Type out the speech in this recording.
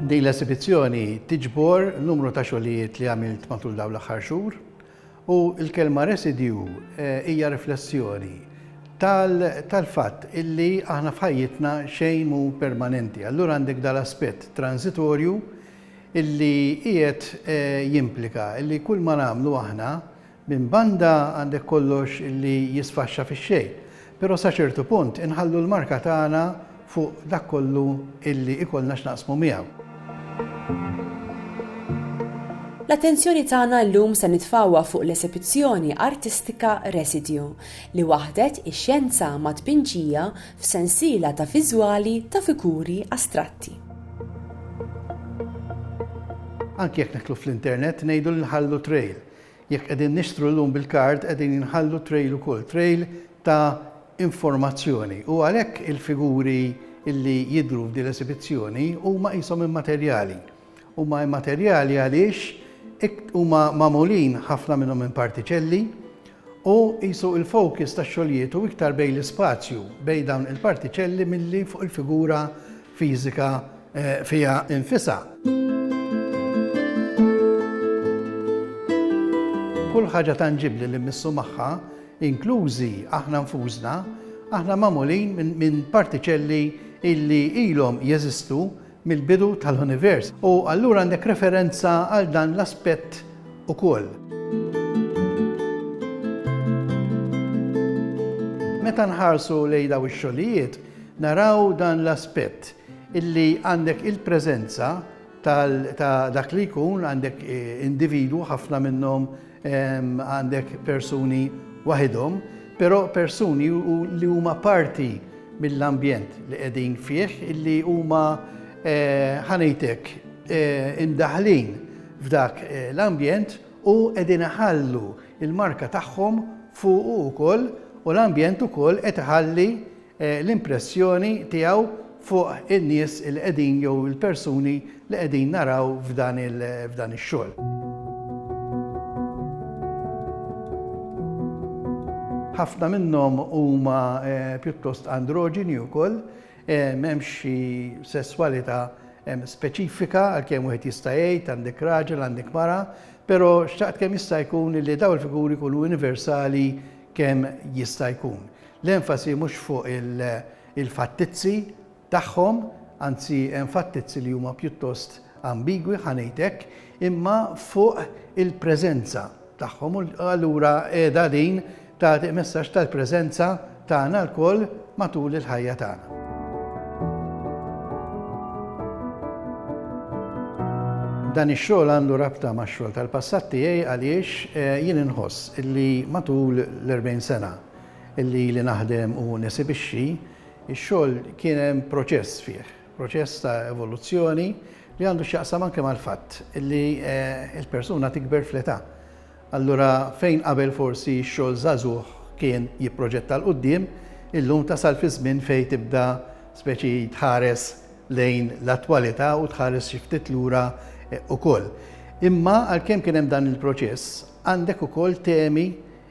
Din l-esibizzjoni tiġbor numru ta' xogħlijiet li għamilt matul dawn l-aħħar xhur u l-kelma residju eh, hija riflessjoni tal-fatt illi aħna f'ħajjitna xejn mu permanenti. Allura għandek dal-aspett transitorju illi qiegħed eh, jimplika illi kull ma nagħmlu aħna Minn banda għandek kollox li jisfaxxa fix-xejn, però sa ċertu punt inħallu l-marka tagħna fuq dak kollu li jkollna x'naqsmu miegħu. L-attenzjoni tagħna llum se nitfgħuha fuq l-esebizzjoni artistika Residju, li waħħdet ix-xjenza mat-tpinġija f'sensiela ta' viżwali ta' figuri astratti. Anki jekk nidħlu fl-internet ngħidu li nħallu trail, Jekk qegħdin nixtru llum bil-kard qegħdin inħallu trail ukoll, trail ta' informazzjoni u għalhekk il-figuri li jidhru f'din l-esibizzjoni huma qishom immaterjali. Huma immaterjali għaliex huma magħmulin ħafna minnhom minn partiċelli u qisu l-focus tax-xogħlijiet hu iktar bejn l-ispazju bejn dawn il-partiċelli milli fuq il-figura fiżika fiha nfisha. Kull ħaġa tanġibbli li mmissu magħha, inklużi aħna nfusna, aħna magħmulin minn partiċelli illi ilhom jeżistu mill-bidu tal-univers. U allura għandek referenza għal dan l-aspett ukoll. Meta nħarsu lejn daw ix-xogħlijiet, Naraw dan l-aspett illi għandek il-preżenza tal ta' dak li jkun għandek individwu ħafna minnhom għandek persuni waħidhom, però persuni li huma parti mill-ambjent li qegħdin fih illi huma ħa ngħid hekk imdaħħlin f'dak l-ambjent u qegħdin iħallu l-marka tagħhom fuqu wkoll u l-ambjent ukoll qed iħalli l-impressjoni tiegħu fuq in-nies li qegħdin jew il-persuni li qegħdin naraw f'dan f'dan ix-xogħol. Ħafna minnhom huma pjuttost androġini wkoll, m'hemmx xi sesswalità speċifika għalkemm wieħed jista' jgħid għandek raġel, għandek mara, però xtaqt kemm jista' jkun li dawn il-figuri jkunu universali kemm jista' jkun. L-enfasi mhux fuq il-fattizzi tagħhom, anzi hemm fattizzi li huma pjuttost ambigwi, ħa ngħid hekk, imma fuq il-preżenza tagħhom u allura qiegħda din tagħti messaġġ tal-preżenza tagħna lkoll matul il-ħajja tagħna. Dan ix-xogħol għandu rabta max-xogħol tal-passat tiegħi għaliex eh, jien inħoss li matul l-40 sena li ili naħdem u nesibixxi, ix-xogħol kien hemm proċess fih, proċess ta' evoluzzjoni li għandu x'jaqsam anke mal-fatt li l-persuna tikber fl-età. Allura fejn qabel forsi x-xogħol żagħżugħ kien jipproġetta 'l quddiem, illum tasal fi żmien fejn tibda speċi tħares lejn l-attwalità u tħares xi ftit lura ukoll. Imma għalkemm kien hemm dan il-proċess, għandek ukoll temi